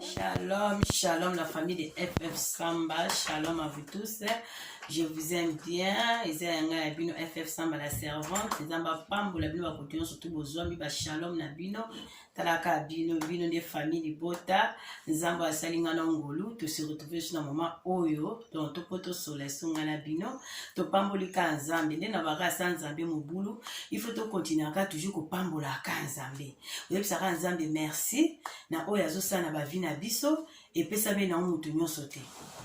Shalom, shalom la famille de FF Samba, shalom à vous tous. Je vous aime bien. Eza yanga ya bino FF Samba la servante. Nzamba pambo la bino bakoto nyonso tout bozwami ba shalom na bino. talaka bino bino nde famille libota nzambe asali nga na ngolu tose retrouve su na moma oyo donc toko tosola esonga na bino topamboli ka nzambe nde na baka asa nzambe mobulu il faut tokontinuaka toujours kopambola ka nzambe oyebisaka nzambe merci na oyo azosala na bavi na biso epesami na motu nyonso te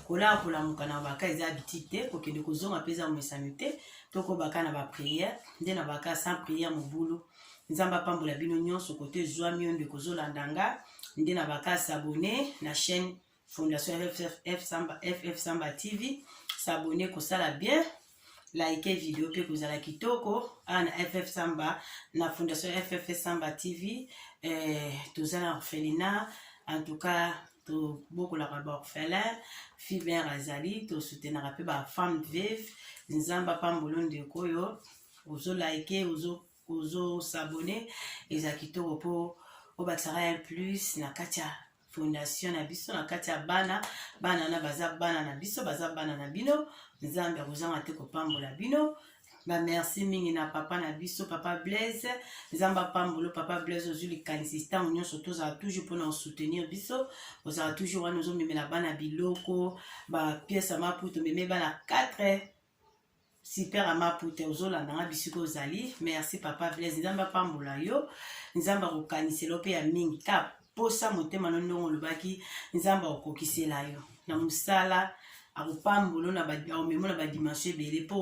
kolala kolamuka na baka eza habitude te kokende kozonga mpe eza momesano te tokobaka na bapriere nde na baka sans priere mobulu nzambe apambola bino nyonso kote ezwami yo ndeko ozolanda nga nde na baka s'abonne na chaîne fondation ff samba, FF samba tv s'abonne kosala bien like video mpe kozala kitoko awa na ff samba na fondation ff samba tv eh, toza na orphelina en tout cas tobokolaka baorphelin fiber azali tosutenaka mpe bafemme vive nzambe apambolo ndeko oyo ozo like ozo ozo s'abonner eza kitoko po obakisaka un plus na kati ya fondation na biso na kati ya bana bana na baza bana na biso baza bana na bino nzambe akozanga te kopambola bino bamerci mingi na papa na biso papa blaise nzambe apambolo papa blaise ozwi likanisi ntango nyonso tozala toujours mpona kosoutenir biso ozala toujours wana ozomemela bana biloko bapiese ya maputo omeme bana 4 super ama pute ozolanda nga bisika ozali merci papa blaise nzambe apambola yo nzambe akokanisela mpe ya mingi ka posa motema no ndongo olobaki nzambe akokokisela yo na mosala akopambola omemo na badimension ebele mpo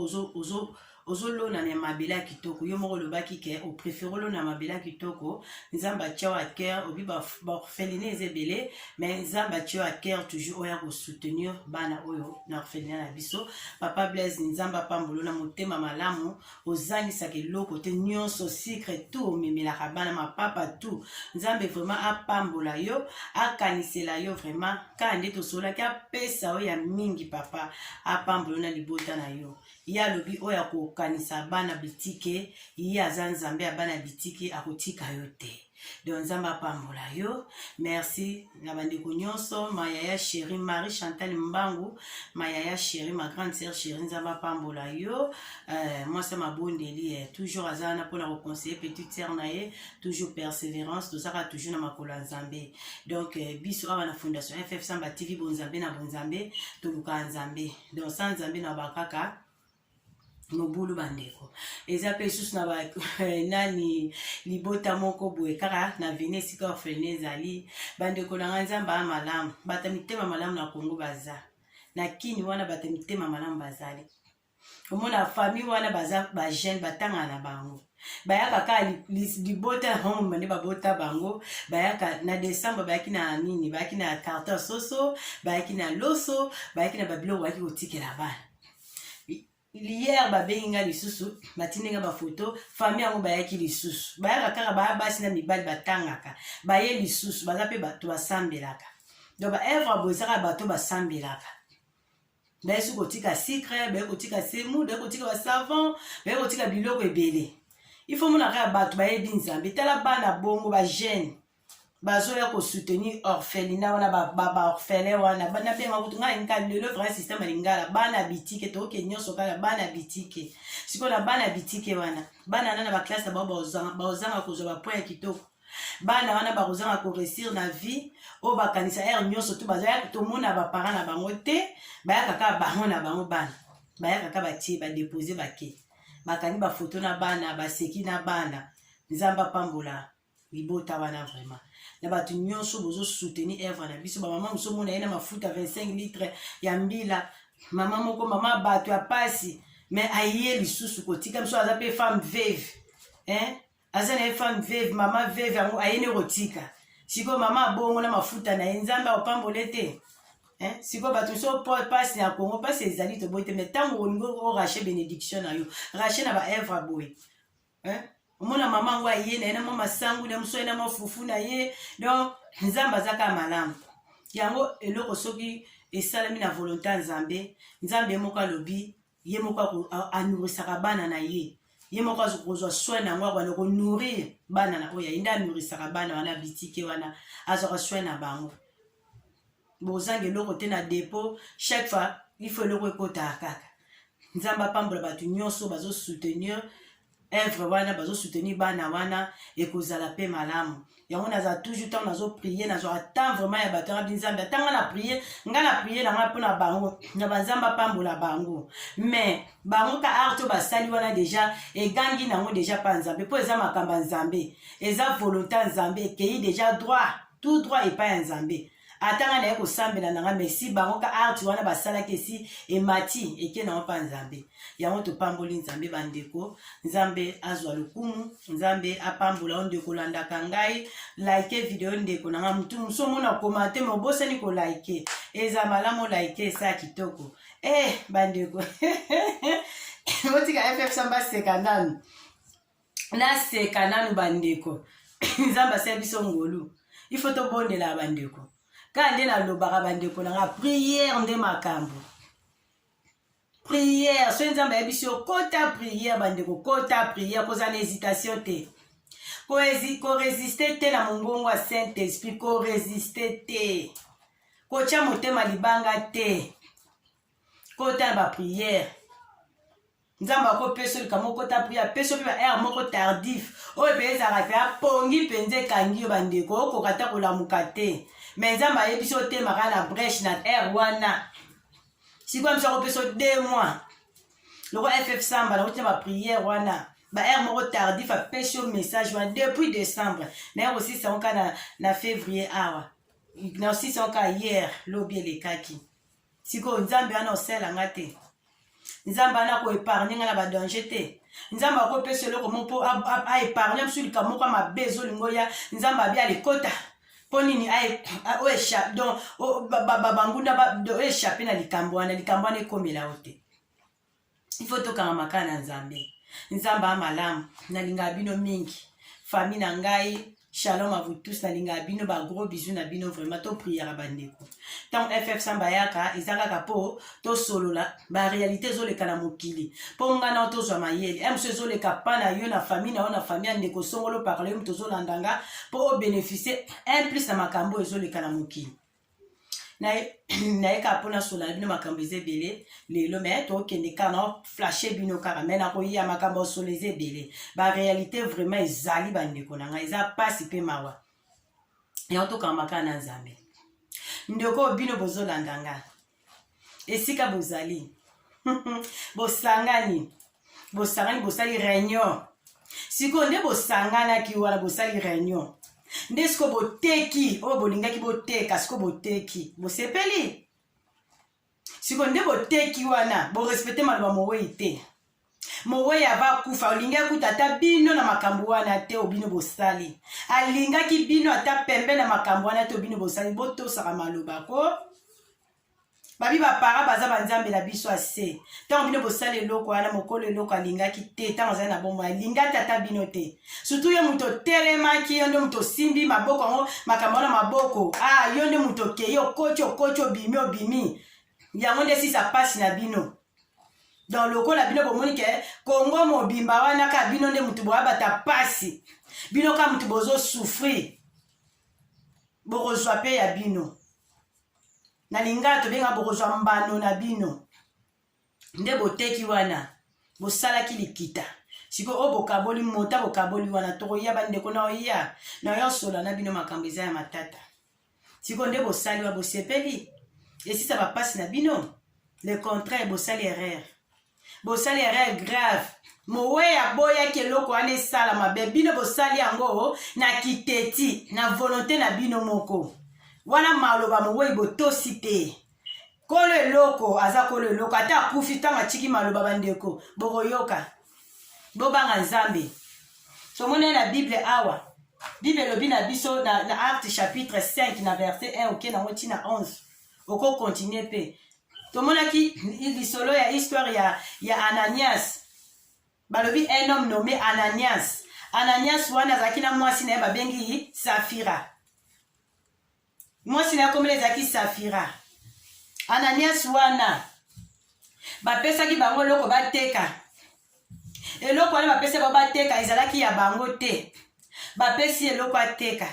ozolona na mabele ya kitoko yo moko olobaki ke oprefere olona mabele ya kitoko nzambe atya wa cœur obi baorpheline eza ebele mais nzambe atio ya cœur toujours oya kosoutenir bana oyo na orphelina na biso papa blaise nzambe apambolo na motema malamu ozangisaka eloko te nyonso sucre tout omemelaka bana mapapa tout nzambe vraiment apambola yo akanisela yo vraiment kaka nde tosololaki apesa oyo ya mingi papa apambolo na libota na yo ye alobi oyo akokanisa bana bitike ye aza nzambe ya bana bitike akotika yo te donc nzambe apambola yo merci na bandeko nyonso mayaya chéri marie chantal mbangu mayaya chéri ma grande sœur chéri nzambe apambola yo euh, mwasi ya mabondeli eh, toujours aza wana mpona koconseille petite sœur na ye toujours persévérance tozaka toujours na makolo ya nzambe donc euh, biso awa na fondation ff samba tv bonzambe na bonzambe tolukaka nzambe donc sa nzambe na bakaka mobulu bandeko eza mpe lisusu na eh, nani libota moko boye kaka na veni esika orphelina ezali bandeko na ngai nzambe aa malamu bata mitema malamu na kongo baza na kini wana bata mitema malamu bazali omona famille wana baza bajeune batanga na bango bayaka kaka libota na bango mobande babota bango bayaka na decembre bayaki na nini bayaki na carton soso bayaki na loso bayaki na babiloko bayaki kotikela bana hier babengi nga lisusu batindi nga bafoto famille yango bayaki lisusu bayaka kaka baya basi na mibali batangaka baye lisusu baza mpe bato basambelaka donc baevre bozaka bato basambelaka baye soki kotika sucre baye kotika semu baye kotika basavon baye kotika biloko ebele ifo monaka ya bato bayebi nzambe tala bana bongo bajeune bazoya kosoutenir orphelina wana baorphelin wana nabenga kutu ngai nka lelo vrai systeme ya lingala bana bitike toke nyonso kaka bana bitike sikoyo na bana bitike wana bana wana na baklasse na bango baozanga kozwa bapoint ya kitoko bana wana bakozanga koresir na vie oyo bakanisa ere nyonso tu bazaya tomona baparent na bango te bayaka kaka bango na bango bana bayaka kaka batie badepose bake bakangi bafoto na bana baseki na bana nzambe apambola libota wana vraiment na bato nyonso bozo soutenir œuvre na biso bamama mosusu omona ye na mafuta 25 litre ya mbila mama moko mama bato ya pasi mais aye lisusu kotika biso aza mpe femme veve hein? aza na ye femme veve mama veve yango aye ne kotika sikoyo mama abongo na mafuta na ye nzambe akopambole te Eh, sikoyo bato so mpasi na kongo mpasi ezali toboyi te mai ntango olingi orache benediction na yo rache na baevre boye hein? omona mama yango aye na ye na mwa masangu na mosu aye na mwa fufu na ye donc nzambe aza kaka malamu yango eloko soki esalami na volonté ya nzambe nzambe ye moko alobi ye moko anourrisaka bana na ye ye moko akozwa soin na yango akobanda konourrir bana na oyo aye nde anourrisaka bana wana bitike wana azwaka soin na bango bozanga eloko te na depot chaque fois ifo eloko ekotaka kaka nzambe apambola bato nyonso bazosoutenir evre wana bazosoutenir bana wana ekozala mpe malamu yango naza toujours ntango nazoprie nazwaka temps vraiment ya bato yanga binzambe ata ngai na prie ngai na prie na ngai mpo na bango na banzambe apambola bango mais bango ka art oyo basali wana deja egangi nango deja mpa nzambe mpo eza makambo ya nzambe eza volonté ya nzambe ekei deja droit tout droit epai ya nzambe ata ngai naye kosambela na ngai mesi bango ka arti wana basalaki esi emati eke na mapa nzambe yango topamboli nzambe bandeko nzambe azwa lokumu nzambe apambola o ndeko olandaka ngai like video ndeko na ngai motu mosu omona komante me obosani kolike eza malamu olike esa kitoko eh bandeko otika ffsamba seka nanu naseka nanu bandeko nzambe asali biso ngolu ifo tobondela bandeko kaka nde nalobaka bandeko na nga priere nde makambo priere soki nzambe ayebisi yo kota priere bandeko kota priere kozala na hésitation te koresiste te na mongongo ya saint esprit koresiste te kotya motema libanga te kota na bapriere nzambe akopesa olika moko ta priya apesa yo mpe ba aire moko tardif oyo mpe ezalaka mpe apongi mpenza ekangi yo bandeko okoka ata kolamuka te me nzambe ayebisi otemaka na breche na aire wana sikoyo mso akopesa yo de mois loko ff samba nakoti na bapriere wana baheure moko tardif apesi yo message wana depuis décembre naye kosisa yango kaka na, na février awa nasisa yango kaka hier lobi elekaki sikoyo nzambe wana osala nga te nzambe wana koepargne nga na badanger te nzambe akopesa eloko mo mpo aepargne biso likambo moko ya mabe ezolingo ya nzambe abi alikota mpo nini bangunda oechappe na likambo wana likambo wana ekomela yo te ifo tokanga makala na nzambe nzambe a malamu nalingaka bino mingi fami na ngai shalom à vous tous nalingaka bino bagros bisu na bino vraiment topriere bandeko ntango ff samba ayaka eza kaka mpo tosolola baréalité ezoleka na mokili mpo ngai nao tozwa mayele emso ezoleka pa na yo na famille na yo na famille ya ndeko songolo parle yo moto ozolanda nga mpo obénéficie un plus na makambo oyo ezoleka na mokili naye kaka mpona sola na bino makambo eza ebele lelo me tokende kaka na flashe bino kaka me nakoya makambo ya sola eza ebele barealité vraiment ezali bandeko na ngai eza mpasi mpe mawa yango tokamba kaka na nzambe ndeko bino bozolanda nga esika bozali bosangani bosangani bosali réunion sikoyo nde bosanganaki wana bosali réunion nde sikoyo boteki oyo bolingaki boteka sikoyo boteki bosepeli sikoyo nde boteki wana borespecte maloba mowei te mowei ava akufa olingi akuta ata bino na makambo wana te obino bosali alingaki bino ata pembe na makambo wana te obino bosali botosaka maloba ko babi bapara baza banzambe na biso ase ntango bino bosala eloko wana mokolo eloko alingaki te ntango azali na bomoi alinga te ata bino te sutu yo moto otelemaki yo nde moto osimbi maboko yango makambo wana maboko a ah, yo nde moto okei okoti okoti obimi obimi yango nde esisa mpasi na bino donc lokola bino bomoni ke kongo mobimba wana ka bino nde motu boyabata mpasi bino ka motu bozosouffrir bokozwa mpe ya bino na lingala tobenga bokozwa mbano na bino nde boteki wana bosalaki likita sikoyo oyo bokaboli mota bokaboli wana tokoya bandeko na oya na oya osola na bino makambo eza ya matata sikoyo nde bosali wa bosepeli esisa bapasi na bino le contraire bosali erreur bosali erreur grave moweyi aboyaki eloko wana esala mabe bino bosali yango na kiteti na volonte na bino moko wana maloba moweyi botosi te kolo eloko aza kolo eloko ata akufi ntango atiki maloba bandeko bokoyoka bobanga nzambe tomoni na bible awa bible elobi na biso na, na acte chapitre 5 na verset 1 oke nango ntina 11 okokontinue mpe tomonaki lisolo ya histoire ya, ya ananias balobi un homme nommé ananias ananias wana azalaki na mwasi na ye babengi safira mwasi na yakomela ezalaki safira ananias wana bapesaki bango eloko bateka eloko wana bapesi bango bateka ezalaki ya bango te bapesi eloko ateka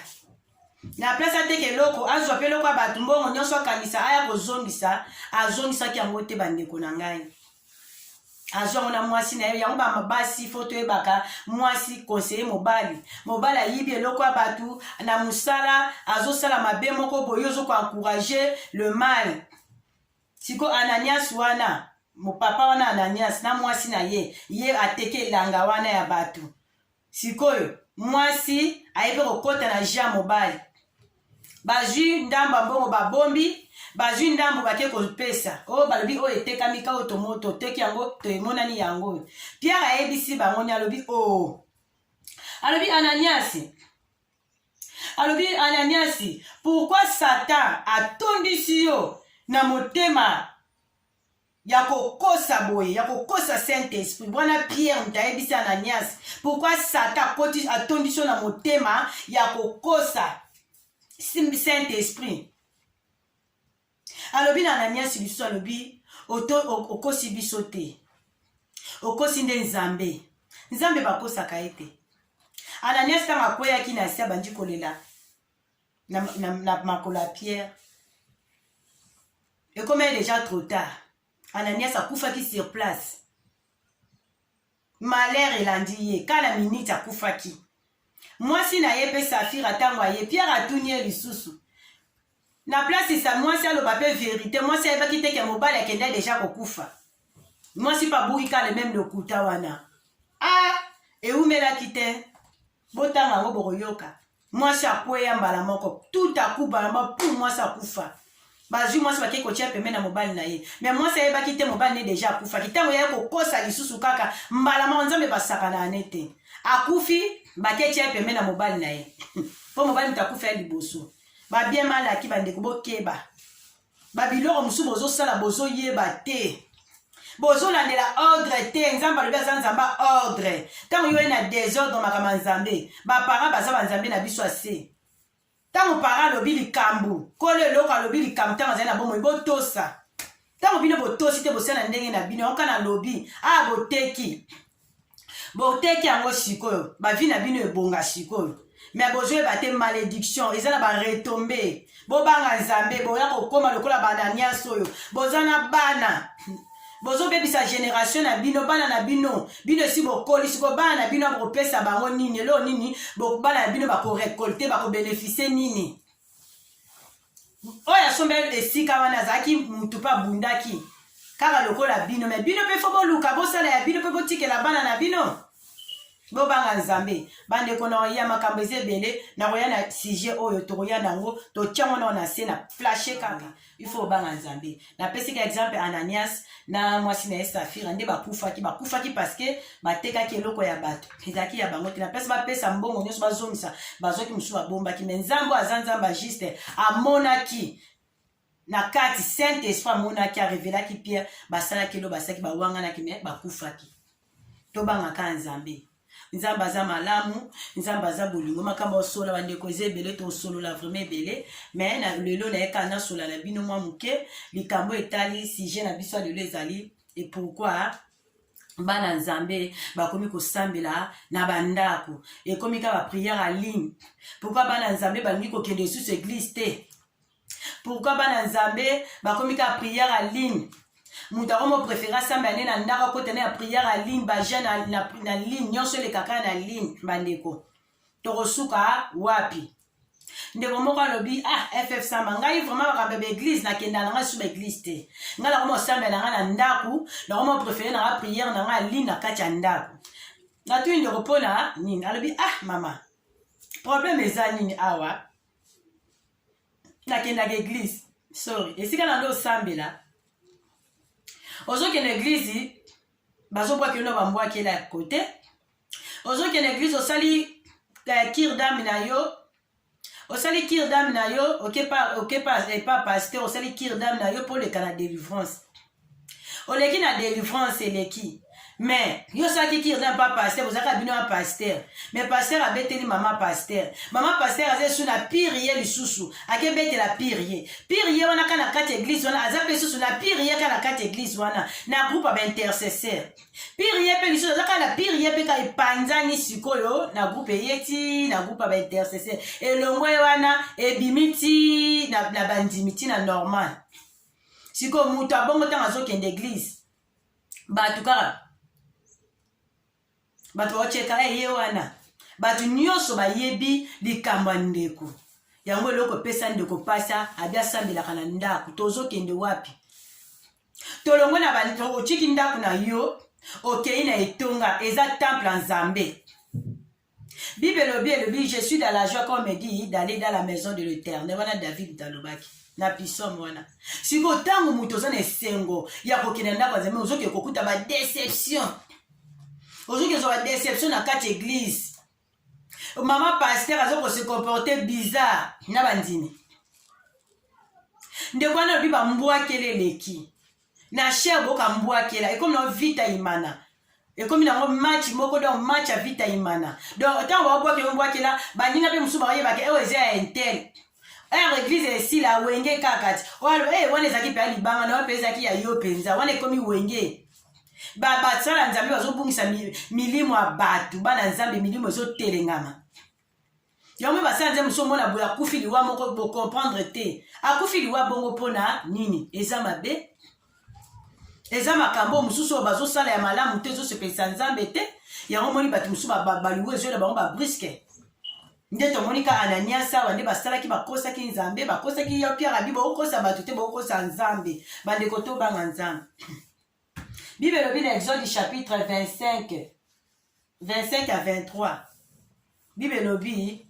na place ateka eloko azwa mpe eloko ya bato mbongo nyonso akangisa aya kozongisa azongisaki yango te bandeko na ngai azwango na mwasi na ye yango bamabasi fo toyebaka mwasi konseye mobali mobali ayibi eloko ya bato na mosala azosala mabe moko boye ozokoencourage le mal siko ananias wana mopapa wana ananias na mwasi na ye ye ateke elanga wana ya bato Sikoyo mwasi aye mpe kokota na jeu ya mobali, bazwi ndambo ya mbongo, babombi bazwi ndambo bake kopesa oyo oh, balobi oyo oh, etekami ka oyo oh, toteki yango toemonani yango oyo piare ayebisi bango ni alobi o oh. alobi ananiasi alobi ananiasi pourkui satan atondisi yo na motema ya kokosa boye ya kokosa saint esprit wana pierre moto ayebisi ananias pourkui satan akoti atondisi yo na motema ya kokosa saint esprit alobi na ananias lisusu alobi okosi biso te okosi nde nzambe nzambe bakosaka ye te ananias ntango akweyaki na se abandi kolela na, na, na makolo ya pierre ekomaki deja trop tard ananias akufaki sur place malheur elandi ye kala minute akufaki mwasi na ye mpe safira ntango aye pierre atuni ye lisusu na place sa mwasi aloba mpe verite mwasi ayebaki te ke mobali akenda deja kokufa mwasi mpe abuki kala meme lokuta wana a ah, eumelaki te botanga yango bokoyoka mwasi akweya mbala moko tout à coup bana ba pum mwasi akufa bazwi mwasi bakei kotia pembe na mobali na ye me mwasi ayebaki te mobali ne deja akufaki ntango yaya kokosa lisusu kaka mbala moko nzambe basakana ane te akufi baketia pembe na mobali na ye mpo mobali moto akufa ya liboso babien malaki bandeko bokeba ba biloko mosusu bozosala bozoyeba te bozolandela ordre te nzambe alobi aza nzambe ordre ntango yo ye na desordre makambo ya nzambe baparent baza banzambe na biso ase ntango parent alobi likambo kolo eloko alobi likambo ntango azali na bomoi botosa ntango bino botosi te bosala ndenge na bino yango kana alobi a ah, boteki boteki yango sikoyo bavi na bino ebonga sikoyo me bozoyeba te malédiction eza na baretombe bobanga nzambe boya kokóma lokola bananias oyo boza na bana bozobebisa generation na bino bana na bino bino esi bokoli siko bana na bino bakopesa bango nini eloo nini bana na bino bakorekolte bakobenefisie nini oyo asombeli esika wana azalaki mutu mpe abundaki kaka lokola bino me bino mpe fo boluka bosala ya bino mpe botikela bana na bino bobanga nzambe bandeko na ya makambo eza ebele nakoya na sujet oyo tokoya na yango totyango nao na se na flashe kaka ifo obanga nzambe napesi ka exemple ananias na mwasi na ye safira nde bakufaki bakufaki parceke batekaki eloko ya bato ezalaki ya bango te napesi bapesa mbongo nyonso bazongisa bazwaki mosusu babombaki me nzambe aza nzambe ya juste amonaki na kati saint esprit amonaki arevelaki pierre basalaki elo basalaki bawanganaki me bakufaki tobangaka nzambe nzambe aza malamu nzambe aza bolingo makambo osola bandeko eza ebele tosolola vraimen ebele me na lelo na ye kaka nasola na bino mwa moke likambo etali sujet na biso ya lelo ezali epourkui bana nzambe bakomi kosambela na bandako ekomi kaka bapriere ya ligne pourkui bana nzambe balingi kokende lisusu eglise te pourkui bana nzambe bakomi kaka priere ya ligne moto akomi oprefere asambela nde na ndako akota na ya priere ya ligne bajeune na, na, na ligne nyonso elekaka na ligne bandeko tokosuka wapi ndeko moko alobi ah ff samba ngai vraiment makambo ya baeglise nakenda na ngai su baeglise te ngai nakoma osambela na ngai na ndako nakoma prefere na ngai priere na ngai aline na kati ya ndako natuni ndeko mpona nini alobi ah mama probleme eza nini awa nakendaka eglize sorry esika na ndo osambela ozokende eglize bazobwaka yo na bambwakela ya kote ozokende eglize osali eh, kir dame na yo osali kir dame na yo okepa epa paster osali kir dame na yo mpo oleka na delivrance oleki na delivrance eleki mais yo soki ki oza mpa paster ozalaka bino ya paster mais paster abeteli mama paster mama paster aza esu na pire ye lisusu akebetela pire ye pire ye wana ka na kati ya eglise wana aza mpe lisusu na pire ye ka na kati ya eglise wana na groupe ya baintercesseur pire ye mpe lisusu azaka na pire ye mpe ka epanzani sikoyo na groupe eye ti na groupe ya baintercesseur elongo ye wana ebimi ti na, na bandimi ti na normal sikoyo moto abongo ntango azokende eglize bato kaka bato baotyeka eh, ye wana bato nyonso bayebi likambo ya ndeko yango eloko epesa ndeko mpasa abi asambelaka na ndako tozokende wapi tolongo na otiki ndako na yo okei na etonga eza temple ya nzambe Bible elobi elobi je suis dans la joie comme dit d'aller dans la maison de l'Éternel wana David talobaki na pisome wana sikoyo ntango moto oza na esengo ya kokende ndako ya nzambe ozoki kokuta badeception ozoki ozwa badeception na kati eglise mama paster aza kose comporte bizarre na bandimi ndeko wana alobi bambwakele eleki na cher boka mbwakela ekomi na vita imana ekomi nango match moko donc match ya vita imana donc ntango baobwakela mbwakela baninga mpe mosusu bakoyebaka eyo eza ya intel heure eglise esila wenge kaka ti eh, wana ezalaki mpe ya libanga na wana mpe ezalaki ya yo mpenza wana ekomi wenge basala nzambe bazobungisa milimo ya bato bana nzambe milimo ezotelengama yango basi ya nzambe somona boye akufi liwa moko bocomprendre te akufi liwa bongo mpo na nini eza mabe eza makambo mosusu oyo bazosala ya malamu te ezosepelisa nzambe te yango omoni bato mosusu baliwa ezoyela bango babriske nde tomoni ka ananias awa nde basalaki bakosaki nzambe bakosaki ya piarabi bokokosa bato te bokokosa nzambe bandeko tobanga nzambe Bible elobi na Exode chapitre 25 25 à 23. Bible elobi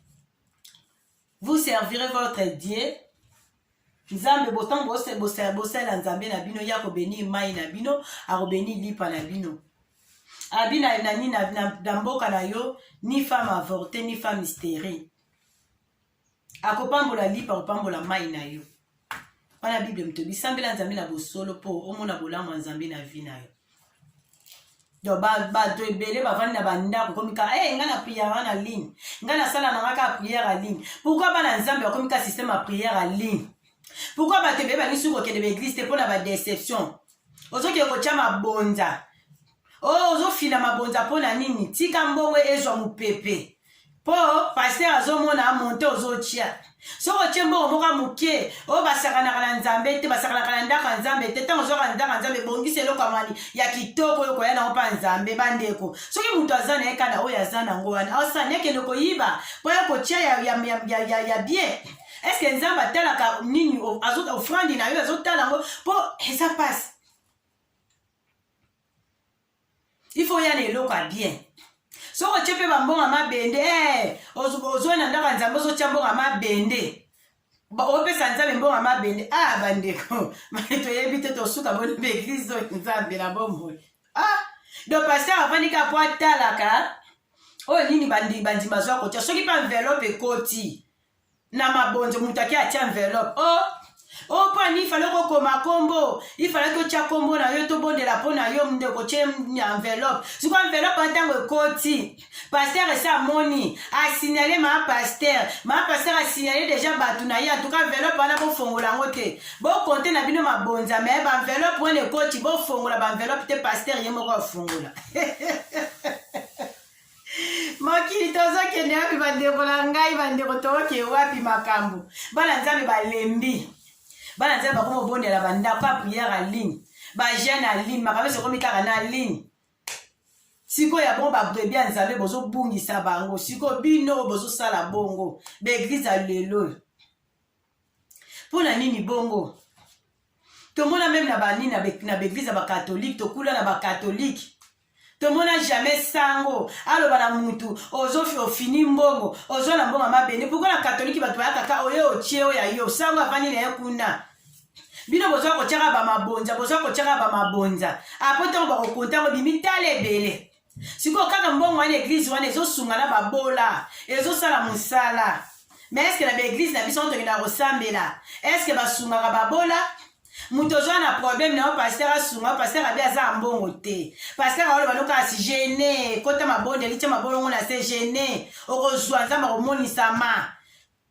vous servirez votre Dieu nzambe botango bosalela nzambe na bino ye akobeni mai na bino akobeni lipa na bino abi na nani na mboka na yo ni femme avorte ni femme sterile akopambola lipa akopambola mai na yo wana bible mtobi sambela nzambe na bosolo mpo omona bolamu ya nzambe na vi na yo donc bato ebele bavandi na bandako komika e eh, ngai na priere na ligne ngai nasala na ngai kaka priere ya ligne pourkui bana nzambe bakomika systeme ya priere ya ligne pourkui bato ebele banisi kokende baeglise te mpo na badeception ozokende kotya mabonza Oh, ozofina mabonza mpo na nini? Tika mbongo ezwa mopepe. mpo paster azomona monte ozotia soki otie mbongo moko moke oyo basakanaka na nzambe te basakanaka na ndako ya nzambe te ntango ozwaka na ndako ya nzambe ebongisa eloko amani ya kitoko oyo koya nango mpa nzambe bandeko soki moto aza na ye kaka na oyo aza nango wana aosani ekende koyiba mpo ya kotia ya, ya, ya, ya, ya, ya bien eske nzambe atalaka nini ofrandi na yo azotala yango mpo eza mpasi il faut ya na eloko ya bien soki otye mpe bambonga mabende eh, ozwa na ndako ya nzambe ozotya mbonga mabende opesa nzambe mbonga mabende a ah, bandeko toyebi te tosuka boni mpe eglize oyo nzambe na bomoi a ah, do paster afandi ka mpo atalaka oyo nini bandimi bazwa kotya soki mpe envelope ekoti na mabonzo moto ake atia enveloppe o oh, o oh, mpo ani ifale kokoma kombo ifale totya kombo na yo tobondela mpo na yo ndeko tye enveloppe siko enveloppe ya ntango ekoti paster esi amoni asignale maa paster maa paster asignale deja bato na ye antuka enveloppe wana bofongola yango te bokonte na bino mabonza me baenveloppe wana ekoti bofongola baenveloppe te paster ye moko afongola mokili tozokende wapi bandeko na ngai bandeko toke wapi makambo bana nzambe balembi bana nzambe bakoma obondela bandako ba priere ya ligne bajeune ya ligne makambo nyonso ekomi kaka na ligne sikoyo ya bongo babrebi ya nzambe bozobungisa bango sikoyo bino oyo bozosala bongo baeglize ya lelo mpo na nini bongo tomona meme na banini na baeglise ya bakatolike tokula na bakatolike tomona jamais sango aloba na mutu ozofi ofini mbongo ozwa na mbongo mabende pourkui na katoliki bato baya kaka oye otie oyo ya yo sango avandi na ye kuna bino bozwa kotyaka bamabonza bozwa kotyaka bamabonza apo ntango bakokonta yango bimi tala ebele sikoyo kaka mbongo wana eglize wana ezosunga na babola ezosala mosala ma eske na baeglize na biso tokendaka kosambela eske basungaka babola moto ozwa na problème na yo paster asunga yo paster abi aza ya mbongo te paster aoloba no kasi gene kota mabondeli tya mabolongo na se gene okozwa nzambe akomonisama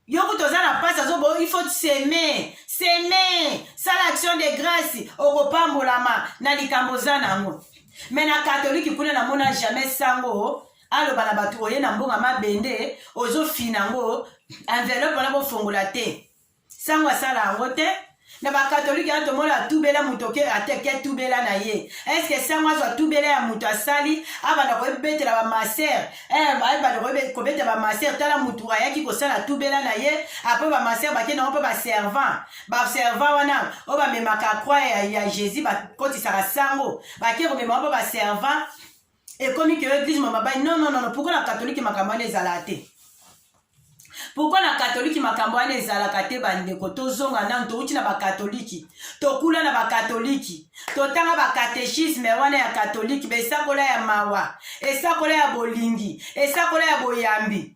yo kutu oza na mpasi azobo il faut seme seme sala action de grâce okopambolama na likambo oza na yango me na katolike kuna namona jamais sango aloba na bato oye na mbonga mabende ozofina yango enveloppe wana bofongola te sango asala yango te na bakatolike wana tomona atubela moto oke ateke tubela na ye eske sango azwa tubela ya moto asali abanda koyebetela bamaser eh, abanda kobeta bamaser tala motu ayaki kosala tubela na ye apres bamaser bake nango mpe baservant baservant wana oyo bamemaka croix ya, ya jésus bakotisaka sango bake komema mpe baservant ekomi ke eglise ma babai non non non pourquoi na katolike makambo wana ezalaka te pourkui na katoliki makambo wana ezalaka te bandeko tozonga nano touti na bakatoliki tokula na bakatoliki totanga bakatechisme wana ya katoliki baesakola ya mawa esakola ya bolingi esakola ya boyambi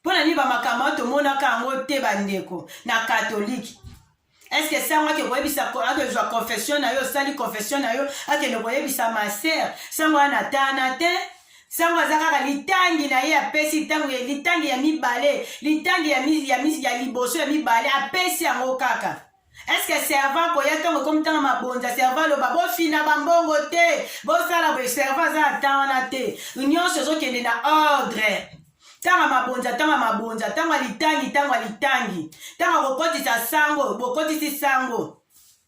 mpo na nini bamakambo wana tomonaka yango te bandeko na katolike eske sango ake koyebisa akezwa confession na yo osali confession na yo akende koyebisa maser sango wana atana te sango aza kaka litangi na ye apesi ntango ya litangi ya mibale litangi ya, ya, ya liboso ya mibale apesi yango kaka eske servant koya ntango ekomi ntango mabonza servant aloba bofina bambongo te bosala boye servant aza na temps wana te nyonso ezokende na ordre ntango mabonza ntango mabonza ntango alitangi ntango alitangi ntango akokotisa sango bokotisi sango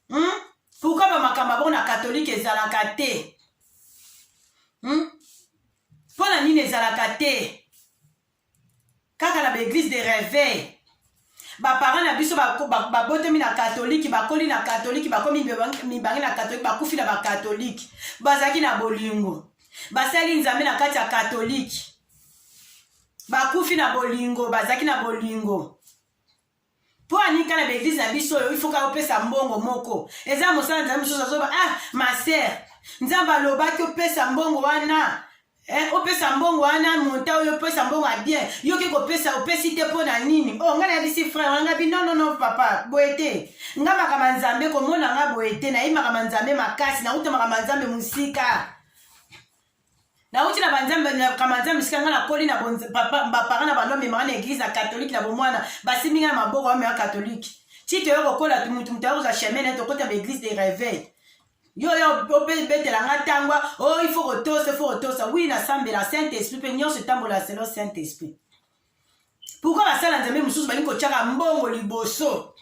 hmm? pourkui bamakambo abongo na katolike ezalaka te hmm? mpo na nini ezalaka te kaka na ba eglise de reveil baparent na biso babotami na katolike bakoli na katolike bakomi mibange na katolike bakufi na bakatolike bazalaki na bolingo basali nzambe na kati ya katolike bakufi na bolingo bazalaki na bolingo po anika na ba eglise na biso oyo ifoka opesa mbongo moko eza mosala nzambe mosusu azoba ah ma sœur nzambe alobaki opesa mbongo wana Eh, opesa mbongo wana monta oyo opesa mbongo ya bien yo oke kopesa opesi te mpo na nini o oh, ngai nayebisi frere wana ngabi nonono papa boye te nga makambo ya nzambe komona nga boye te nayebi makambo ya nzambe makasi nauta makambo ya nzambe mosika nauti na banzambe na kamanzambe esika ngai nakoli na bapara na bando amemaka na eglize na katolike na bomwana basimbi ngai na maboko amema katolike ti toyo kokola motu motu ayokozwa chemin naye tokota ba eglise de reveil yo yo obetela ngai ntangwa o oh, ifo kotosa ifo kotosa wi nasambela saint esprit mpe nyonso etambola selo saint esprit pourkui basala nzambe mosusu balingi kotyaka mbongo liboso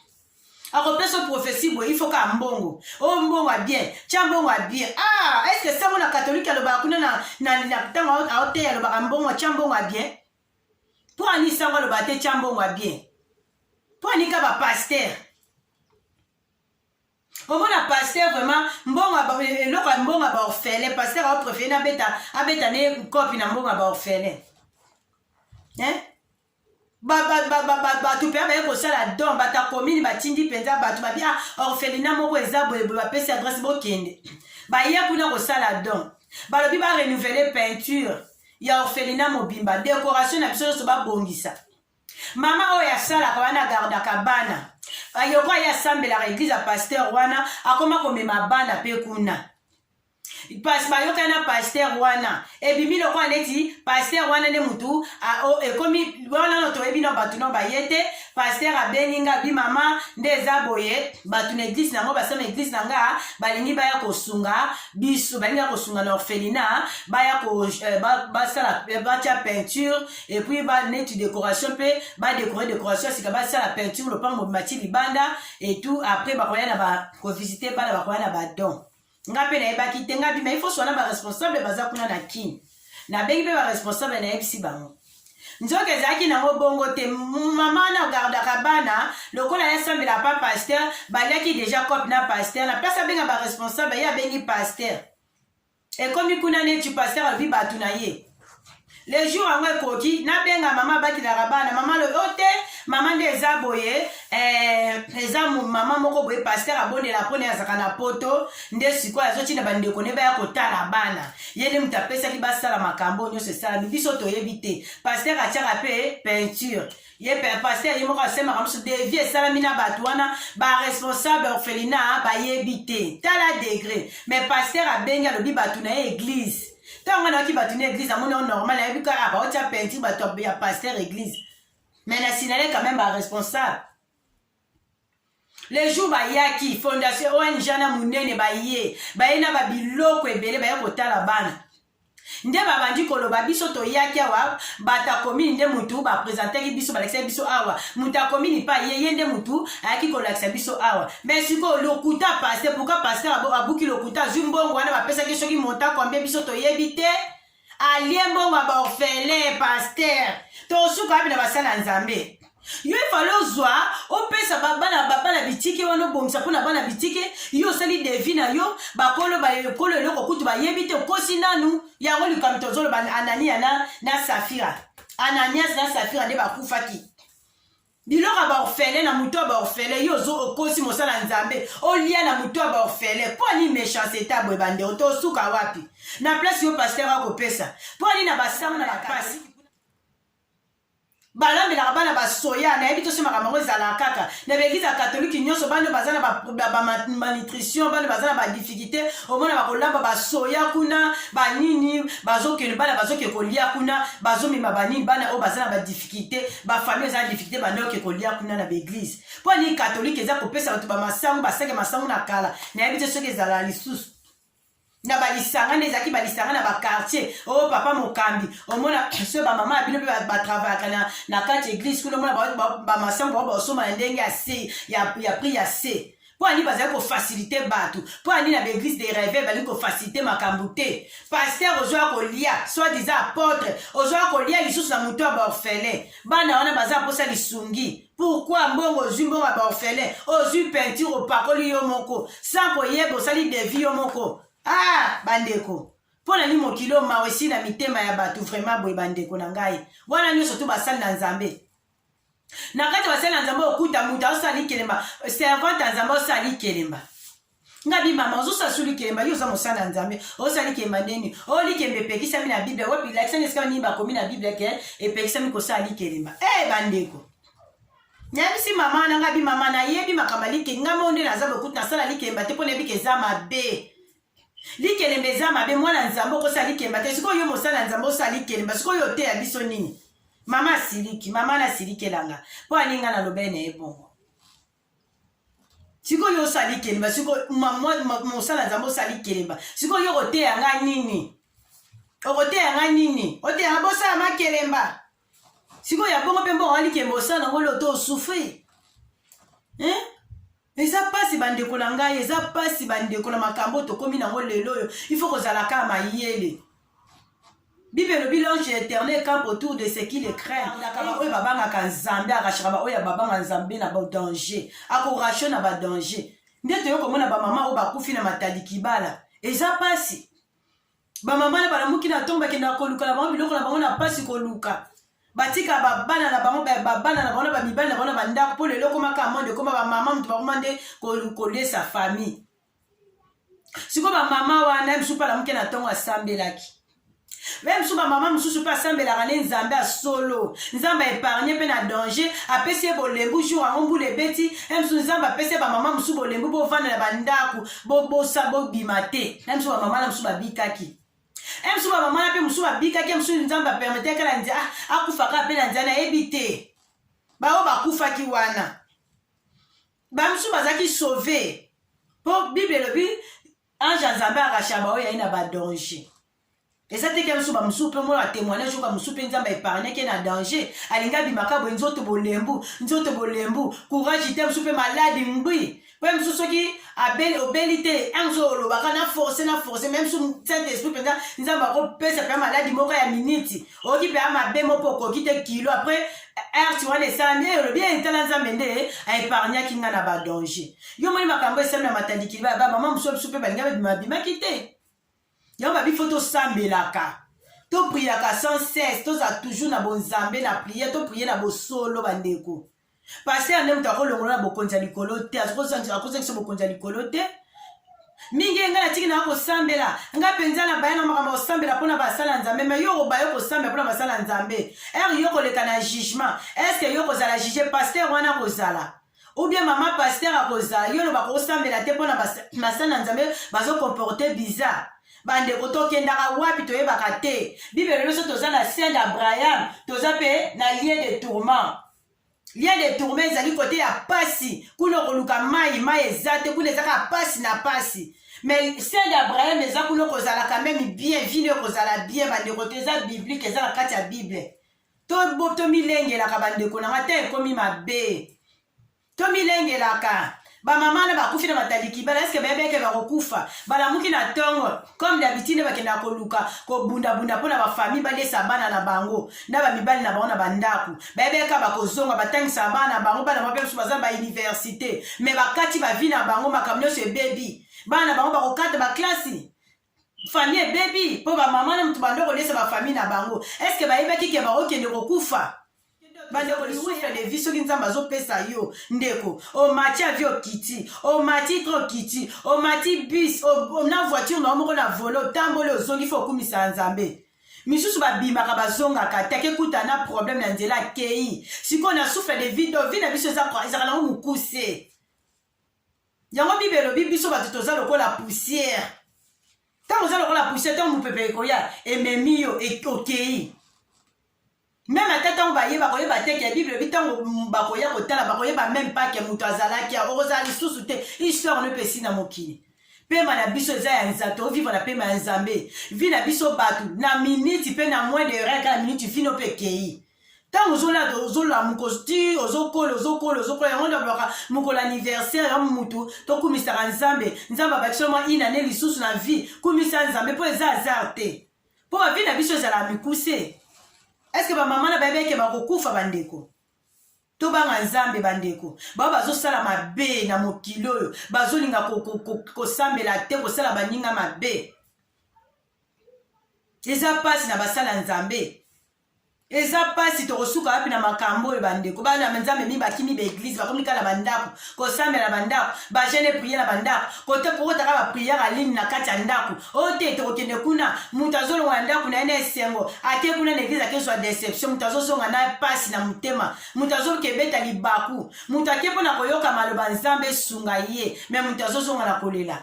akopesa profesi boye ifo kaka mbongo o oh, mbongo ya bien tya mbongo ya bien ah estce que sango na katolike alobaka kuna na ntango aoteya alobaka mbongo tya mbongo ya bien mpo ani sango alobaka te tya mbongo ya bien mpo anika bapaster omona pasteur vraiment mbonga eloko ya mbonga ba orphelin pasteur aoprefere abeta abeta ne kopi na mbonga ba orphelin eh? bato mpe baye kosala don bato ya komini batindi mpenza bato babi a ah, orphelina moko eza boyeboye bapesi adresse bokende baye kuna kosala don balobi barenouvele peinture ya orphelina mobimba décoration na biso nyonso babongisa mama oyo asalaka wana agardaka bana ayoko aye asambelaka eglize ya pasteur wana akoma komema bana mpe kuna pasi bayokani na paster wana ebimi lokola neti paster wana nde motu ekomi wana no toyebi na bato no baye te paster abengi nga bi mama nde eza boye bato na eglise na yango basala na eglise na nga balingi baya kosunga biso balingi ya kosunga na orphelina baya euh, basala batya peinture et puis ba neti décoration pe ba décorer décoration sika ba sala peinture le pango mati libanda et tout après ba koya na ba ko visiter bana ba koya na ba don nga pe na yebaki te nga bi mais il faut sona ba responsable baza kuna na kin na bengi pe ba responsable na yebisi bango nzoka ezalaki nango bongo te mama na gardaka bana lokola yasambela pa paster baliaki deja cope na paster na place abenga baresponsable ye abengi paster ekomi kuna neti pasteur alobi bato na ye le jour yango ekoki nabenga mama abatelaka bana mama alobi o oh, te mama nde eza boye eh, eza mama moko boye paster abondela mpona azaka na poto nde sikoyo azotinda bandeko ne baya kotala bana ye nde moto apesaki basala makambo nyonso esalami biso toyebi te paster atiaka mpe peinture ye pasteur ye moko asemaka mosusu devi esalami na bato wana baresponsable ya orphelina bayebi te tala degre mais pasteur abengi alobi bato na ye eglise ntango nga nayoki bato na eglise amoni yango normal ayebi kaka ah, baotia peinture bato ya pasteur eglise mais na sinale quand même baresponsable le jour bayaki fondation ong na monene baye baye na babiloko ebele baye kotala bana nde babandi koloba biso toyaki awa bato akomini nde motu baprezentaki biso balakisaki biso awa moto akomini pa ye ye nde motu ayaki kolakisa biso awa me sikoyo lokuta paste pourka paster abuki lokuta azwi mbongo wana bapesaki soki monta kwambe biso toyebi te alie mbongo ya baorphelin paster tosuka wapi na basala ya nzambe yo efale ozwa opesa babana babana bitike wana obongisa mpo na bana bitike yo osali devi na yo bakolo bakolo eloko kutu bayebi te okosi nanu yango likambo tozoloba anania na, na safira ananias na safira nde bakufaki biloko ya baorfele na moto ya baorfele yo ozo okosi mosala nzambe olia na moto ya baorfele mpo ani mechance eta boye bandeko to osuka wapi na place yo pasteur akopesa mpo ani na basama na bapasi balambelaka bana basoya nayebi toso makambo yango ezalaka kaka na baeglize ya katolike nyonso bana baza na bamalnutrition bana baza na badifficulté omona bakolamba basoya kuna banini bazokende bana bazoke kolia kuna bazomema banini bana oyo baza na badifficulté difficulté ba famille eza difficulté banda oke kolia kuna na baeglise mpo nini katolike eza kopesa bato bamasangu basake masangu na kala nayebi te soki ezala lisusu na balisanga nde ezalaki balisanga na bakartier o oh, papa mokambi omona so bamama ya bino mpe batravayaka na, na kati eglise kuna omona bamasango bao baosomba na ndenge ya se ya, ya prix ya se mpo ani bazali kofasilite bato mpo ani na baeglise de reve balingi kofasilite makambo te paster ozwaka kolia soit disa apotre ozwaka kolia lisusu na moto ya baorphelin bana wana baza mposa lisungi pourkui mbongo ozwi mbongo ya baorphelin ozwi peinture opakoli yo moko sans koyeba osali devi yo moko ah bandeko mpo na nini mokili oyo mawa esi na mitema ya bato vraimen boye bandeko na ngai wana nyonso tu basali na nzambe na kati ya basali na nzambe okuta moto azosala likelemba servante ya nzambe azosala likelemba nga bimama ozosala su likelemba yo oza mosala na nzambe ozosala likelemba ndeni o oh, likemba epekisami na biblia wapi lakisani esika nini bakomi na biblia ke epekisami kosala likelemba e eh, bandeko nayebisi mama na nga bimama nayebi makambo alike nga mo nde naza bokuti nasala likelemba te mpo nayebi ke eza mabe Likelemba eza mabe mwana nzambe okosala likemba te sikoyo yo mosala nzambe osala likelemba sikoyo oteya biso nini mama asiliki mama nasilikelanga mpo aninga nalobeli na ye bongo sikoyo osala likelemba sikoyo mosala nzambe osala likelemba sikoyo yo okoteya nga nini okoteya nga nini oteya nga bosala makelemba sikoyo ya bongo mpe mbongo walikemba osala yango loto osufri eh? eza mpasi bandeko na ngai eza mpasi bandeko na makambo tokomi nango lelo oyo ifo kozala kaka mayele bible elobi l'ange éternel camp autour de ce qui le craint alaka baoyo babangaka nzambe arachaka baoyo babanga nzambe na badanger akorasho na badanger nde toyo komona bamama oyo bakufi na matali kibala eza mpasi bamama na balamuki na ntongo bakendaka koluka na bango biloko na bango na mpasi koluka batika babana na bango babana na bango na bamibali na bango na bandako mpo lelo ekoma kaka monde ekoma bamama moto bakoma nde kolesa famille sikoyo bamama wana ye mosusu mpe alamuki na ntongo asambelaki meme so bamama mosusu mpe asambelaka nde nzambe ya solo nzambe aepargne mpe na danger apesi ye bolembu jour yango mbula ebeti msu nzambe apesi ye bamama mosusu bolembu bovanda na bandako bobosa bobima te na biso bamama na biso babikaki e biso bamama na mpe mosusu babikaki mosusu nzambe apermetaki na nzia ah, akufaka mpe na nzia nayebi te baoyo bakufaki wana bamisusu bazalaki sauve mpo bible elobi ange ya nzambe arashaba oyo yai na badanger eza te kemisu bamosusu mpe mona témoignage oyo bamosusu mpe nzambe aepargneke na danger alingi abimaka boye nzoto bolembu nzoto bolembu courage te mosusu mpe maladi ngbi mpe mosusu soki obeli te mosusu olobaka na force na force meme su saint esprit mpenza nzambe akopesa mpenza maladi moko ya miniti oyoki mpenza mabe moko mpo okoki te kilo apres arte wana esalami e olobi etala nzambe nde aepargnaki ngai na badanger yo moni makambo esalami na matandikili baya bamama mosusu bisu mpe balinga babimabimaki te yango babi fo tosambelaka topriaka sans cesse tozala toujours na bonzambe na priere toprie na bosolo bandeko paster nde moto akolongola na bokonzi ya likolo te akozongisa bokonzi ya likolo te mingi ye ngai natiki nanga kosambela ngai mpenza na baya na makambo ya kosambela mpo na basala ya nzambe mai yo okobaye kosambela mpo na basala ya nzambe ere yo koleka na jugement estce yo kozala juge paster wana kozala ou bien mama pasteur akoza yo loba kosambela te mpona basana nzambe bazokomporte bizarre bandeko tokendaka wapi toyebaka te bibele biso toza na saint abraham toza mpe na lien de tourment lien de tourment ezali kote ya pasi kuna okoluka mai mai eza te kuna eza kaka pasi na pasi mais saint abraham eza kuna okozalaka meme bien vino ekozala bien bandeko te eza biblike eza na kati ya bible To tomilengelaka bandeko na nga te ekomi mabe. Tomilengelaka bamama na bakufi na mataliki bala eske bayebeke bakokufa balamuki na ntongo comme d'habitude bakendaka koluka kobundabunda mpo na bafamille balesa bana na bango na bamibali na bango na bandako bayebeka bakozonga batangisa bana na bango bana mabe mosusu baza bauniversité me bakati bavi na bango makambo nyonso ebebi bana na bango bakokata baklasi famille ebebi mpo bamama na moto bando kolesa bafamille na bango eske bayebaki ke bakokende kokufa bandeko lisusu de vie soki nzambe azopesa yo ndeko omati avi okiti omati tro okiti omati bus na voiture na yo moko na volo otamboli ozongi fo okumisa ya nzambe misusu babimaka bazongaka te akekuta na problème na nzela akei sikoyo na souffle de vie do vie na biso ezaka nango mokuse Yango Bible elobi biso bato toza lokola poussière. Ntango oza lokola poussière, ntango mopepe ekoya ememi yo e, okei. Meme ata ntango baye bakoyeba te ke Bible elobi ntango bakoya kotala bakoyeba meme pas ke moto azalaki ya okozala lisusu te histoire no epesi na mokili pema na biso eza ya nzambe tovivre na pema ya nzambe vi na biso bato na miniti mpe na moins de reka na miniti vino mpe ekei ntango ozolata ozolamuka ozoti ozokola ozokola ozokola yango nde balobaka mokolo anniversaire ya motu tokumisaka nzambe nzambe abakisela mwa ina ne lisusu na vie kumisa nzambe mpo eza azar te mpo bavi na biso ezala mikuse eske bamama na bayebi eke bakokufa bandeko tobanga nzambe bandeko bao bazosala mabe na mokili oyo bazolinga kosambela ko, ko, ko te kosala baninga mabe eza mpasi na basala nzambe eza mpasi tokosuka wapi na makambo oyo bandeko bana ya nzambe mingi bakimi baeglize bakomi kaka na bandako kosambela na bandako bagene priye na bandako kote kokotaka bapriere aline na kati ya ndako oyo oh, te tokokende kuna moto azolonga na ndako na ye na esengo ake kuna na eglize akezwa deception moto azozonga na mpasi na motema moto azokebeta libaku moto ake mpo na koyoka maloba nzambe esunga ye me moto azozonga na kolela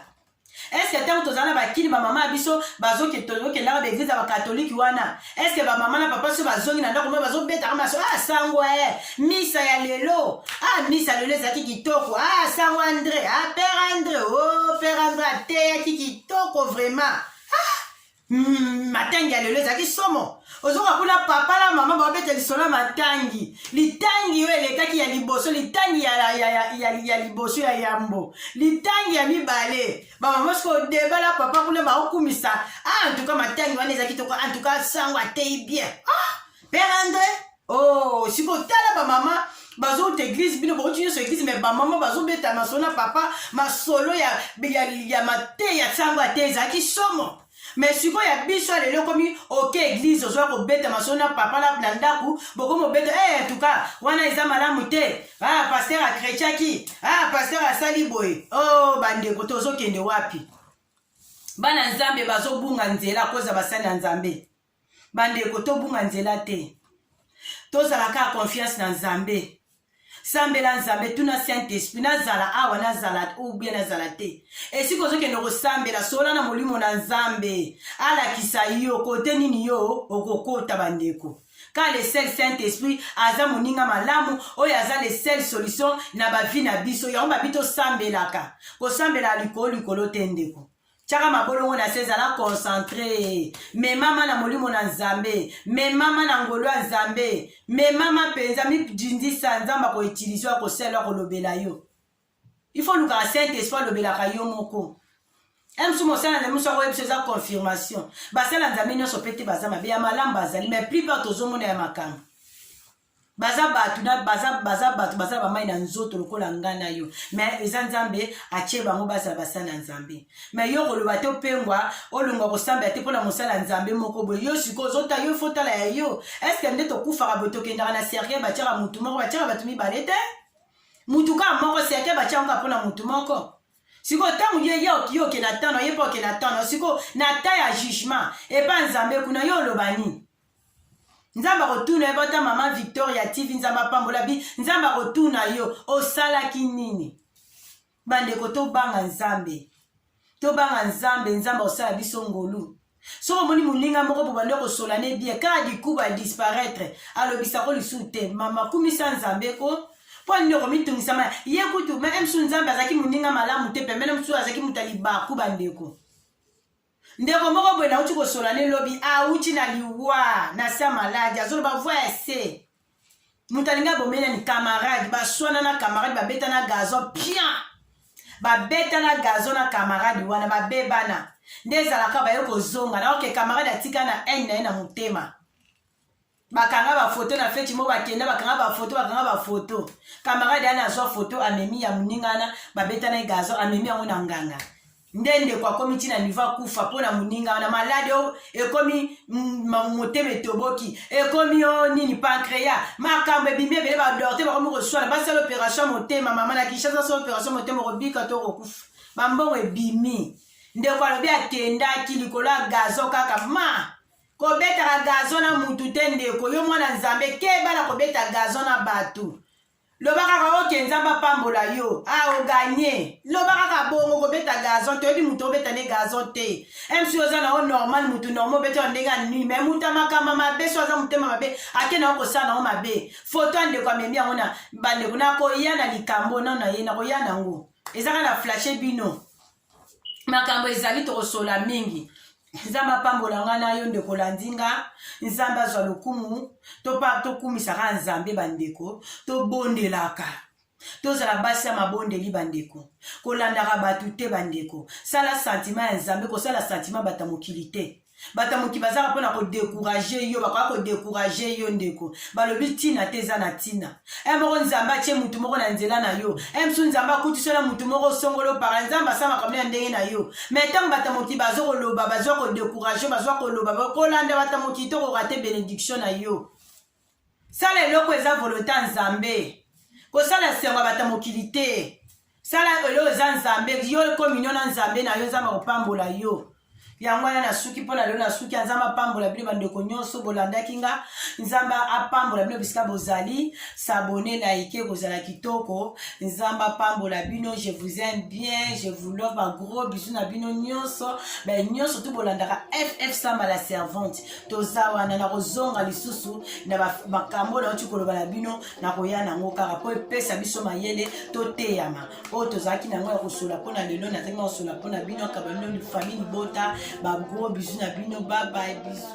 eske ntango tozala na bakini bamama ya biso bazokendaka baeglize ya bakatolike wana eske bamama na papa so bazongi na ndako moyo bazobetaka maso ah sango e eh, misa ya lelo ah misa lelo ezalaki kitoko ah sango andre ah pere andre o oh, pere andre ateyaki kitoko vraiment Mm, matangi ya lelo ezalaki somo ozoka kuna papa na mama babeta lisolo ya matangi litangi oyo elekaki ya liboso litangi ya, ya, ya, ya, ya liboso ya yambo litangi ya mibale bamama siko deba na papa kuna baokumisa ah, antuka matangi wana ezalaki toko antuka sango ateyi bien ah, père andre Oh, sikoyo tala bamama bazouta eglise bino bauti nyonso eglise me bamama bazobeta masolo na papa masolo ya, ya, ya mateya nsango ate ezalaki somo me sikoyo ya biso ya lelo ekomi oke eglise ozwa kobeta masolo na papa na, na ndako bokomi obeta hey, eh, tuka wana eza malamu te ah, paster akretiaki ah, paster asali boye o oh, bandeko tozokende wapi bana nzambe bazobunga nzela koza basali ya nzambe bandeko tobunga nzela te tozala kaka confiance na nzambe sambela nzambe tuna saint esprit nazala awa nazala ubie nazala te esika ozokende kosambela sola na molimo na nzambe alakisa yo kote nini yo okokota bandeko ka le sel saint esprit aza moninga malamu oyo aza le sel solution na bavi na biso yango babi tosambelaka kosambela likolo likolo te ndeko tyaka mabolongo na se zala concentre memama na molimo na nzambe memama na ngolu ya nzambe memama mpenza midindisa nzambe akoutilize yo akosala akolobela yo ifo olukaka saint esprit alobelaka yo moko msu mosala nzambe mosu akoyebisa eza confirmation basala nzambe nyonso mpe te baza mabe ya malamu bazali mai plupart tozomona ya makambo baza bato na baza baza bato baza bamai na nzoto lokola nga na yo me eza nzambe atie bango bazala basala na nzambe me yo koloba te opengwa olongwa kosambela te mpona mosala ya nzambe moko boye yo sikoyo ozota yo fotala ya yo eske nde tokufaka boye tokendaka na sergei batiaka motu moko batiaka bato mibale te motu kaka moko sergei batiaka kaka mpona motu moko sikoyo ntango ye ye okiye oke na tano ye mpe oke na tano sikoyo na ta ya jugement epa nzambe kuna yo oloba nini nzambe akotuna yo bata mama victoria tv nzambe apambola bi nzambe akotuna yo osalaki nini bandeko tobanga nzambe tobanga nzambe nzambe akosala biso ngolu soki omoni moninga moko po bando kosola ne bie kaka dikuba adisparaitre alobisa ko lisusu te mama kumisa nzambe ko mpo nini okomitungisama ye kutu meme mosusu nzambe azalaki moninga malamu te pemene mosusu azalaki moto ya libaku bandeko ndeko moko boye nauti kosolola ne lobi auti na liwa na sa maladi azoloba voi ya se moto alingi abomeli nani camarade baswana na camarade babeta na gazon pian babeta na gazon na camarade wana babebana nde ezalaka baye kozonga naoke camarade atika na haine na ye na motema bakanga bafoto na feti mo bakenda bakanga bafoto bakanga bafoto kamarade ana azwa foto amemi ya moninga wana babeta na ye gazo amemi yango na nganga nde ndeko akomi ntina nivo akufa mpo na moninga wana maladi oyo ekomi motema etoboki ekomi o nini pancrea makambo ebimi ebele badorte bakomi koswana basala opération motema mama na kinshasa asala opération motema okobika to okokufa bambongo ebimi ndeko alobi akendaki likolo ya gazo kaka ma kobetaka gazo na mutu te ndeko yo mwana nzambe keba na kobeta gazo na bato loba kaka oke nzambe apambola yo a ah, oganye loba kaka bongo kobeta gazon toyebi moto obeta nde gazon te msi oza na yo normal motu normal obeta ndenge ya nui me moto ya makamba mabe so aza motema mabe ake na yo kosala na yo mabe foto ya ndeko amemi yango na bandeko nakoya na likambo nano na ye nakoya na yango ezaka na flashe bino makambo ezali tokosola mingi nzambe apambola ngai na yo ndeko olandi nga nzambe azwa lokumu tokumisaka nzambe bandeko tobondelaka tozala basi ya mabondeli bandeko kolandaka bato te bandeko sala santima ya nzambe kosala santima bato ya mokili te bato ya moki bazaka mpo na kodekourage yo bakoya kodekourage yo ndeko balobi ntina te eza na ntina e eh, moko nzambe atye motu moko na nzela na yo e eh, msu nzambe akutisi na motu moko songolo para nzambe asala makambo ya ndenge na yo me ntango bato ya moki bazo koloba bazwa kodekourage bazwa koloba kolanda bato ya moki tokoka te benediction na yo sala eloko eza volonte ya nzambe kosala esengo ya bato ya mokili te sala eloko eza nzambe yo kominio na nzambe na yo nzambe akopambola yo yango wana nasuki mpo na lelo nasuki ya nzambe apambola bino bandeko nyonso bolandaki nga nzambe apambola bino bisika bozali sabone na ike kozala kitoko nzambe apambola bino je vous aime bien je vous love bagros bisu na bino nyonso bai nyonso tu bolandaka ff samba la servante toza wana nakozonga lisusu na makambo oyo nauti koloba na bino nakoya nango kaka mpo epesa biso mayele toteyama oyo tozalaki na yango ya kosola mpo na lelo nazangi na kosola mpo na bino akaba bino famille libota bagro bizu na bino babaye bizu